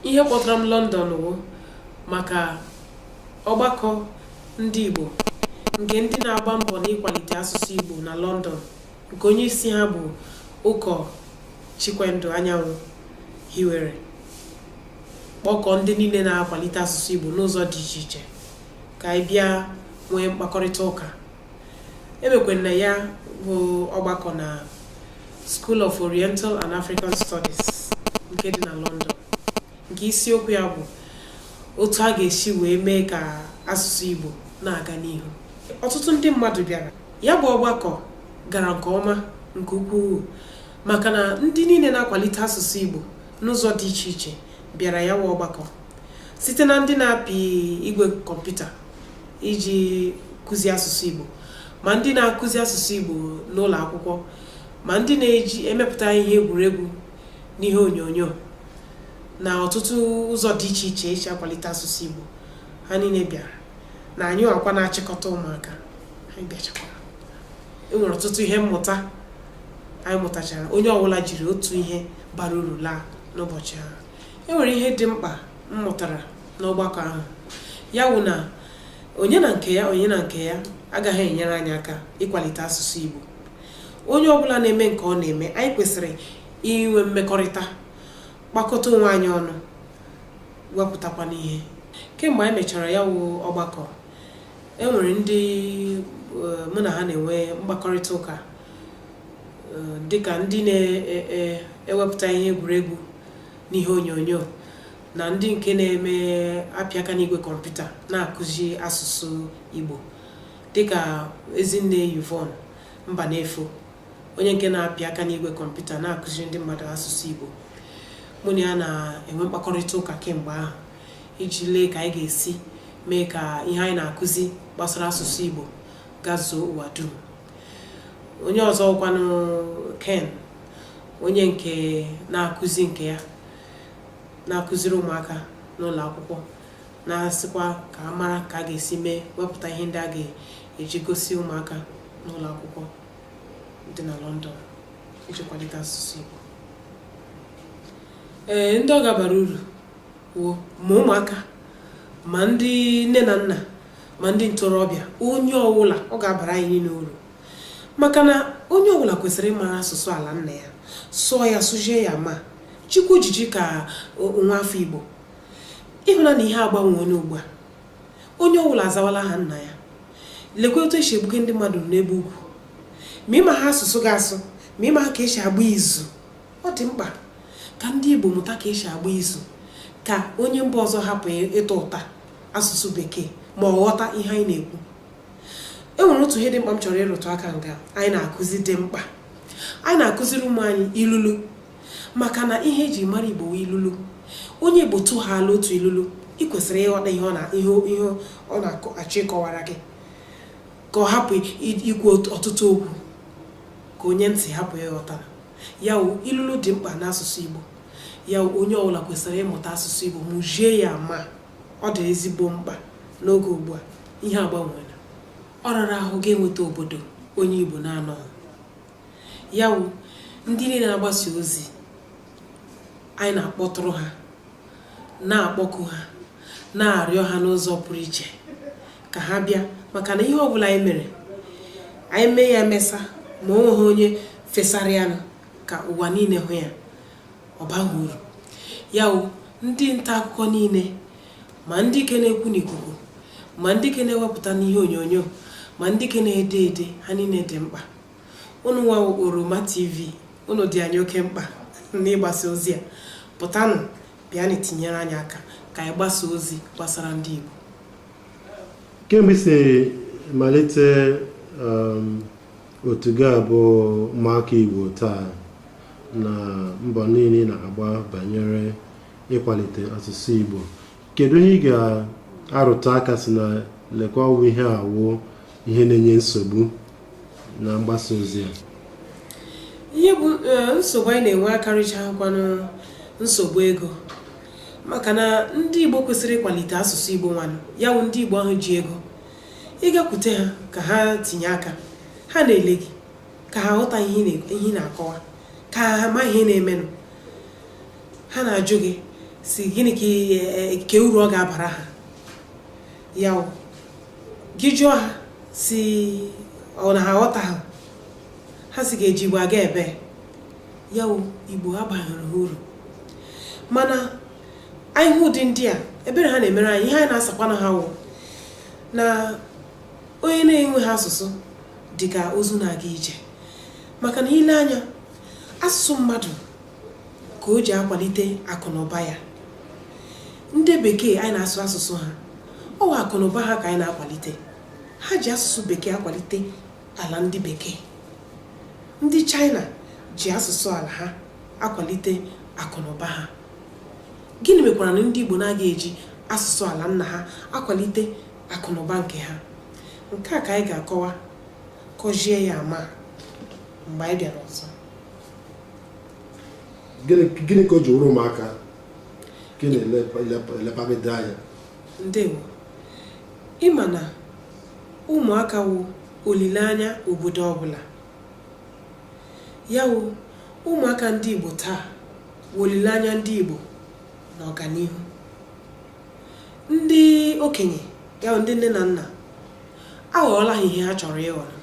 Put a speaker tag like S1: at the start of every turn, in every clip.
S1: ihe kpọtara m London wụ maka ọgbakọ ndị Igbo nke ndị na-agba mbọ n'ịkwalite asụsụ Igbo na London nke onye isi ha bụ ụkọ Chikwendụ Anyanwụ hiwere kpọkọ ndị niile na-akwalite asụsụ Igbo n'ụzọ dị iche iche ka anyị bịa nwee mkpakọrịta ụka e mekwanụ ya bụ ọgbakọ na School of Oriental and African Studies nke dị na London nke isiokwu ya bụ otu a ga-esi wee mee ka asụsụ Igbo na-aga n'ihu ọtụtụ ndị mmadụ bịara ya bụ ọgbakọ gara nke ọma nke ukwuu maka na ndị niile na-akwalite asụsụ Igbo n'ụzọ dị iche iche bịara ya wụ ọgbakọ site na ndị na-apị igwe kọmputa iji kụzi asụsụ Igbo ma ndị na-akụzi asụsụ Igbo n'ụlọ akwụkwọ ma ndị na-eji emepụta ihe egwuregwu n'ihe onyonyo na ọtụtụ ụzọ dị iche iche e ji akwalite asụsụ Igbo ha niile bịara na anyị wakwa na-achịkọta ụmụaka anyị bịachakwara e nwere ọtụtụ ihe mmụta anyị mụtachara onye ọbụla jiri otu ihe bara uru laa n'ụbọchị ahụ e nwere ihe dị mkpa m mụtara n'ọgbakọ ahụ ya wụ na onye na nke ya onye na nke ya agaghị enyere anyị aka ịkwalite asụsụ Igbo onye ọbụla na-eme nke ọ na-eme anyị kwesịrị inwe mmekọrịta kpakọta onwe anyị ọnụ wepụtakwanụ ihe kemgbe anyị mechara ya wụ ọgbakọ e nwere ndị e, mụ na ha na-enwe mkpakọrịta ụka eh, dịka ndị na-ewepụta ihe egwuregwu n'ihe onyonyo na ndị nke na-eme apị aka n'igwe kọmputa na-akụzi asụsụ Igbo dịka Ezinne Yvonne Mbanefo onye nke na-apị aka n'igwe kọmputa na-akụziri ndị mmadụ asụsụ Igbo mụ na ya na-enwe mkpakọrịta ụka kemgbe ahụ iji lee ka anyị ga-esi mee ka ihe anyị na-akụzi gbasara asụsụ Igbo gazuo ụwa dum onye ọzọ wụkwanụ Ken onye nke na-akụzi nke ya na-akụziri ụmụaka n'ụlọ akwụkwọ na-asịkwa ka a mara ka a ga-esi mee wepụta ihe ndị a ga-eji gosi ụmụaka n'ụlọ akwụkwọ dị na London iji kwalite asụsụ Igbo ee ndị ọ ga-abara uru wụ ma ụmụaka ma ndị nne na nna ma ndị ntorobịa onye ọwụla ọ ga-abara anyị niile uru maka na onye ọbụla kwesịrị ịmara asụsụ ala nna ya sụọ ya sụzie ya ma jikwa ejiji ka nwa afọ igbo ị hụla na ihe agbanweela ugbu a onye ọbụla azawala aha nna ya lekwa otu esi egbuke ndị mmadụ n'ebe ugwu ma ị maha asụsụ gị asụ ma ị maha ka esi agba izu ọ dị mkpa ka ndị igbo mụta ka esi agba izu ka onye mba ọzọ hapụ ịta ụta asụsụ bekee ma ọ ghọta ihe anyị na-ekwu e nwere otu ihe dị mkpa m chọrọ ịrụtụ aka nga anyị na-akụzi dị mkpa anyị na-akụziri ụmụ anyị ilulu maka na ihe eji mara igbo wụ ilulu onye igbo tụhala otu ilulu ị kwesịrị ịghọta ihe ọ na-achọ ịkọwara gị ka ọ hapụ ikwu ọtụtụ okwu ka onye ntị hapụ ịghọta ya wụ ilulu dị mkpa n'asụsụ igbo ya wụ onye ọbụla kwesịrị ịmụta asụsụ Igbo mụzie ya ma ọ dị ezigbo mkpa n'oge ugbu a ihe agbanweela ọ rara ahụ ị ga-enweta obodo onye Igbo na-anọghị ya wụ ndị niile na-agbasa ozi anyị na-akpọtụrụ ha na-akpọku ha na-arịọ ha n'ụzọ pụrụ iche ka ha bịa maka na ihe ọ bụla anyị mere anyị mee ya emesa ma o nweghị onye fesara ya nụ ka ụwa niile hụ ya ọ baghị uru ya wụ ndị nta akụkọ niile ma ndị ke na-ekwu n'ikuku ma ndị ke na-ewepụta n'ihe onyonyo ma ndị ke na-ede ede ha niile dị mkpa unu nwa oroma tv unu dị anyị oke mkpa n'ịgbasa ozi a pụtanụ bịanụ tinyere anyị aka ka anyị gbasa ozi gbasara ndị Igbo
S2: kemgbe i si malite um, otu ga-abụ ụmụaka Igbo taa na mbọ niile ị na-agba banyere ịkwalite asụsụ Igbo kedu ihe ị ga-arụtụ aka sị na lekwa ọ wụ ihe a wụ ihe na-enye nsogbu na mgbasa ozi
S1: a ihe bụ eh, nsogbu anyị na-enwe karịcha wụkwanụ nsogbu ego maka na ndị Igbo kwesịrị ịkwalite asụsụ Igbo nwanụ ya wụ ndị Igbo ahụ ji ego ị gakwute ha ka ha tinye aka ha na-ele gị ka ha ghọta ihe ị na-akọwa ka ha ma ihe na-emenụ ha na-ajụ gị sị gịnị ka e, e, uru ọ ga-abara ha ya wụ gị jụọ ha sị ọ na ha aghọtaha ha sị ị ga-eji igbo aga ebee ya wụ igbo abaghịrị ha uru mana anyị hụ ụdị ndị a ebere ha na-emere anyị ihe anyị na-asakwanụ ha wụ na onye na-enweghị asụsụ dị ka ozu na-aga ije maka na i lee anya asụsụ mmadụ ka o ji akwalite akụ na ụba ya ndị bekee anyị na-asụ asụsụ ha ọ wụ akụ na ụba ha ka anyị na-akwalite ha ji asụsụ bekee akwalite ala ndị bekee ndị China ji asụsụ ala ha akwalite akụ na ụba ha Gịnị mekwaranụ ndị Igbo na-agaghị eji asụsụ ala nna ha akwalite akụnụba nke ha? Nke a ka anyị ga-akọwa kọzie ya ama mgbe anyị bịara ọzọ.
S2: Gịnị ka o ji wụrụ ụmụaka gị na-elepagide anya?
S1: Ndewo. Ịma na ụmụaka wụ olileanya obodo ọbụla. Ya wụ ụmụaka ndị Igbo taa wụ olileanya ndị Igbo n'ọganihu. Ndị okenye ya wụ ndị nne na nna aghọọla ha ihe ha chọrọ ịghọrọ.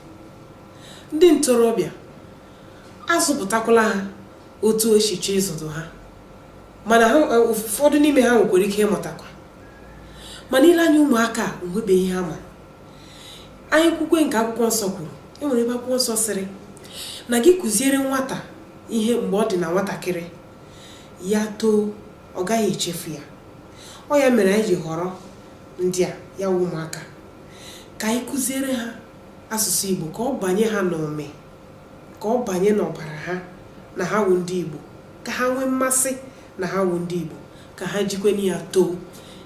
S1: Ndị ntorobịa a zụpụtakwala ha otu o si chọọ ịzụdụ ha mana ha e, ụfọdụ n'ime ha nwekwara ike ịmụtakwa mana i lee anya ụmụaka a o nwebeghị ihe ha ma anyị kwukwe nke akwụkwọ nsọ kwuru e nwere ebe akwụkwọ nsọ sịrị na gị kụziere nwata ihe mgbe ọ dị na nwatakịrị ya too ọ gaghị echefu ya ọ ya mere anyị ji họrọ ndị a ya wụ ụmụaka ka anyị kụziere ha asụsụ Igbo ka ọ banye ha n'ụmị ka ọ banye n'ọbara ha na ha wụ ndị Igbo ka ha nwee mmasị na ha wụ ndị Igbo ka ha jikwenụ ya too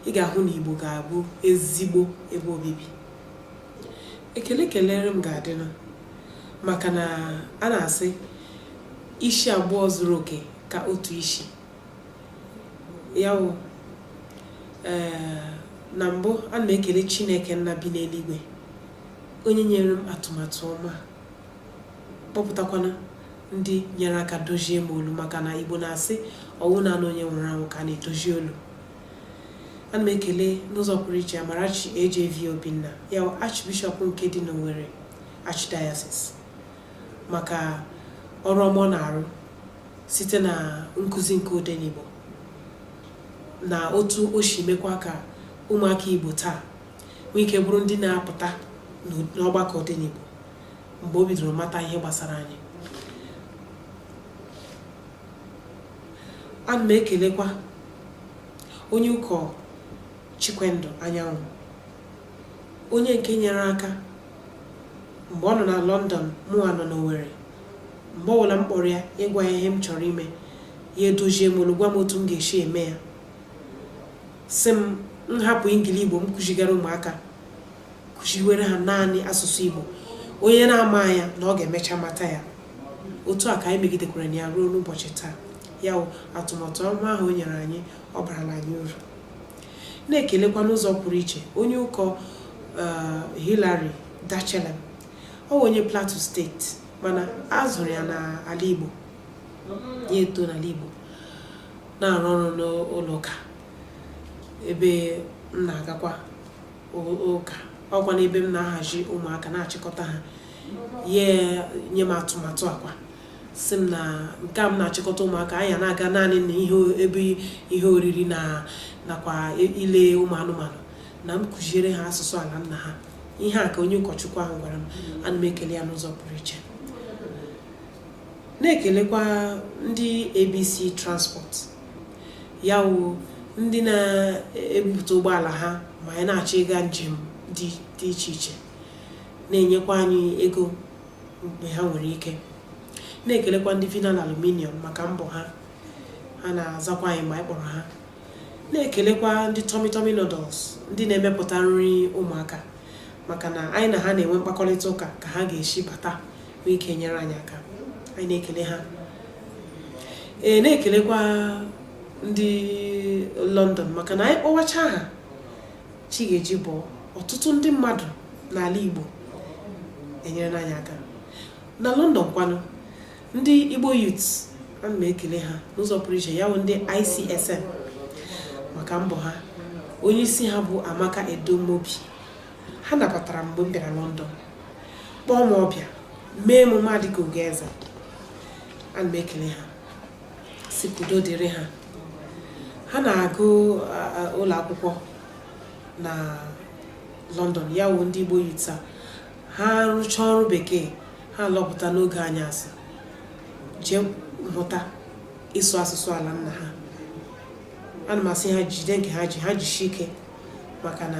S1: ị ga-ahụ na Igbo ga-abụ ezigbo ebe obibi ekele kelere m ga-adịnụ maka na a na-asị isi abụọ zuru oke ka otu isi ya wụ eh, na mbụ ana m ekele Chineke nna bi n'eluigwe onye nyere m atụmatụ ọma kpọpụtakwana ndị nyere aka dozie m olu maka na Igbo na-asị ọ wụ naanị onye nwụrụ anwụ ka a na-edozi olu ana m ekele n'ụzọ pụrụ iche Amarachi AJV Obinna ya Archbishop nke dị n'Owerri Archdiocese maka ọrụ ọma ọ na-arụ site na nkụzi nke odenigbo na otu o si mekwa ka ụmụaka Igbo taa nwee ike bụrụ ndị na-apụta n'ọgbakọ odenigbo mgbe o bidoro mata ihe gbasara anyị ana m ekelekwa onye ụkọ Chikwendụ Anyanwụ onye nke nyere aka mgbe ọ nọ na London mụwa nọ n'Owerri mgbe ọbụla m kpọrọ ya ịgwa ya ihe m chọrọ ime ya edozie m olu gwa m otu m ga-esi eme ya sị m nhapụ ingili igbo m kụzigara ụmụaka kụziwere ha naanị asụsụ Igbo onye na-ama ya na ọ ga-emecha mata ya otu a ka anyị megidekwara na ya ruo n'ụbọchị taa ya atụmatụ ọma ahụ o nyere anyị ọ barala anyị uru na-ekelekwa n'ụzọ pụrụ iche onye ụkọ eh, Hillary Dachelem ọ bụ onye Plateau steeti mana a zụrụ ya n'ala Igbo ya eto n'ala Igbo na-arụ ọrụ n'ụlọ ụka ebe m na-agakwa ụka ọkwa n'ebe m na-ahazi ụmụaka na-achịkọta ha ya nye m atụmatụ a kwa sị m na nke a m na-achịkọta ụmụaka anyị ana-aga naanị na ihe ebe ihe oriri na nakwa ile ụmụ anụmanụ na m kụziere ha asụsụ ala nna ha ihe a ka onye ụkọchukwu ahụ gwara m ana m ekele ya n'ụzọ pụrụ iche na-ekelekwa ndị abc transport ya wụ ndị na-ebupụta ụgbọala ha ma anyị na-achọ ịga njem dị iche iche na-enyekwa anyị ego mgbe ha nwere ike na-ekelekwa ndị vinal aluminium maka mbọ ha ha na-azakwa anyị mgbe anyị kpọrọ ha na-ekelekwa ndị Tummy Tummy Noodles ndị na-emepụta nri ụmụaka maka na anyị na ha na-enwe mkpakọrịta ụka ka ha ga-esi bata nwee ike nyere anyị aka anyị na-ekele ha ee na-ekelekwa ndị London maka na anyị kpọwacha ha chi ga-eji bọọ ọtụtụ ndị mmadụ n'ala Igbo enyerena anyị aka na London kwanụ ndị Igbo youths ana m ekele ha n'ụzọ pụrụ iche ya bụ ndị ICSN maka mbọ ha onye isi ha bụ Amaka Edomobi ha nabatara mgbe m bịara London kpọọ m ọbịa mee emume m adịka ugoeze ana m ekele ha sị ka udo dịrị ha ha na-aga ụlọ akwụkwọ na London ya wụ ndị Igbo youths ha rụchaa ọrụ bekee ha lọpụta n'oge anyasị jee mụta ịsụ asụsụ ala nna ha ana m asị ha jide nke ha ji ha jisi ike maka na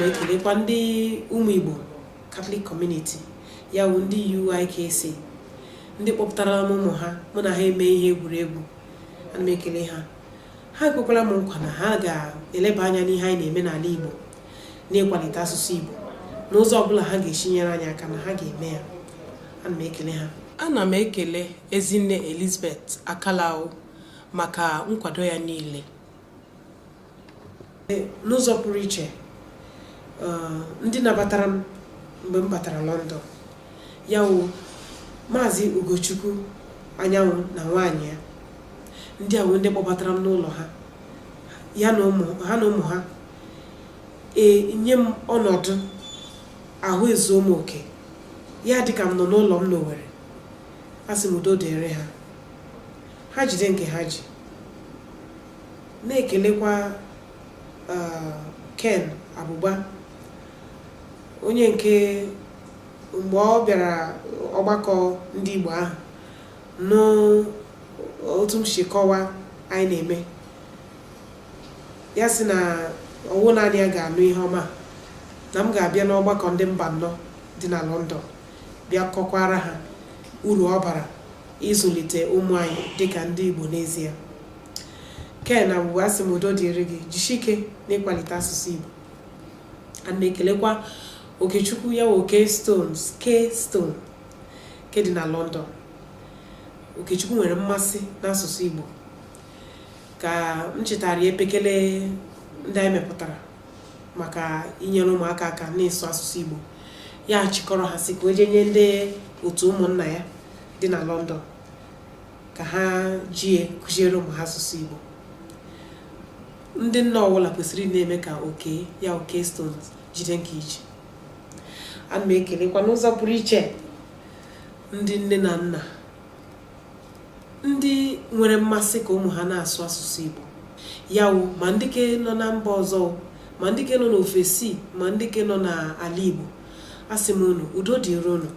S1: na-ekelekwa ndị ụmụ Igbo Catholic Community ya wụ ndị UIKC ndị kpọpụtara m ụmụ ha mụ na ha eme ihe egwuregwu ana m ekele ha ha ekwekwara m nkwa na ha ga-eleba anya n'ihe anyị na-eme n'ala Igbo n'ịkwalite asụsụ Igbo n'ụzọ ọbụla ha ga-esi nyere anyị aka na ha ga-eme ya ana m ekele ha Ana m ekele Ezinne Elizabeth Akalawu maka nkwado ya niile. N'ụzọ pụrụ iche, eh, ndị nabatara m mgbe m batara London, ya wụ Maazị Ugochukwu Anyanwụ na nwaanyị ya. Ndị a wụ ndị kpọbatara m n'ụlọ ha, ha na ụmụ ha nye m ọnọdụ ahụ ezuo m oke ya dị ka m nọ n'ụlọ m n'Owere asị m udo dịrị ha ha jide nke ha ji na-ekelekwa ah, Ken Agbụgba onye nke mgbe ọ bịara ọgbakọ ndị Igbo ahụ nụ otu m si kọwa anyị na-eme ya sị na ọ wụ naanị ya ga-anụ ihe ọma na m ga-abịa n'ọgbakọ ndị Mbanọ dị na London bịa kọkwara ha uru ọ bara ịzụlite ụmụ anyị dịka ndị Igbo n'ezie Ken Agbụgba asị m udo dịrị gị jisike n'ịkwalite asụsụ Igbo ana m ekelekwa Okechukwu ya wụ Oke K-Stone ke dị na London Okechukwu nwere mmasị n'asụsụ Igbo ka m chịtaara ya epekele ndị anyị mepụtara maka inyere ụmụaka aka n'ịsụ asụsụ Igbo ya chịkọrọ ha sị ka o jee nye ndị otu ụmụnna ya dị na London ka ha jie kụziere ụmụ ha asụsụ Igbo ndị nna ọbụla kwesịrị na-eme ka Oke ya wụ K-Stone jide nke i ji ana m ekelekwa n'ụzọ pụrụ iche ndị nne na nna ndị nwere mmasị ka ụmụ ha na-asụ asụsụ Igbo ya wụ ma ndị ke nọ na mba ọzọ ma ndị ke nọ n'ofesi ma ndị ke nọ n'ala Igbo asị m unu udo dịrị unu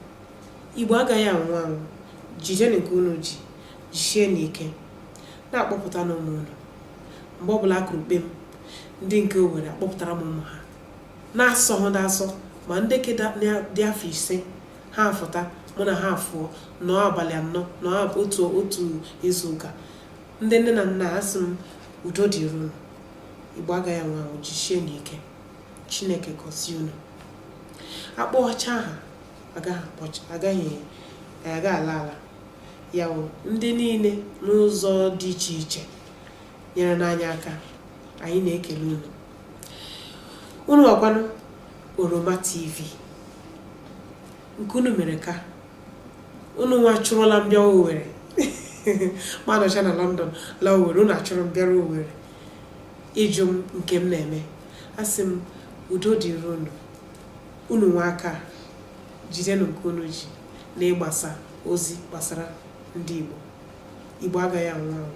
S1: Igbo agaghị anwụ anwụ jidenu nke unu ji jisienu ike na-akpọpụtanụ ụmụ unu mgbe ọbụla a kụrụ kpem ndị nke Owerri akpọpụtara m ụmụ ha na-asọ ha na-asọ ma ndị ke dị afọ ise ha afụta mụ na ha afụọ nọọ abalị anọ nọọ otu izu ụka ndị nne na nna asị m udo dịrị unu igbo agaghị anwụ anwụ jisie na ike chineke gọzie unu akpọchaa aha agaghị aga ala ala ya wụ ndị niile n'ụzọ dị iche iche nyerena anyị aka anyị na-ekele unu unu nwakwanụ oroma tv nke unu mere ka unu nwa chụrụla m bịa owere m anọcha na london la owere unu achụrụ m bịara owere ịjụ m nke m na-eme asị m udo dịrị unu unu anwaka jidenụ nke unu ji na ịgbasa ozi gbasara ndị igbo igbo agaghị anwụ anwụ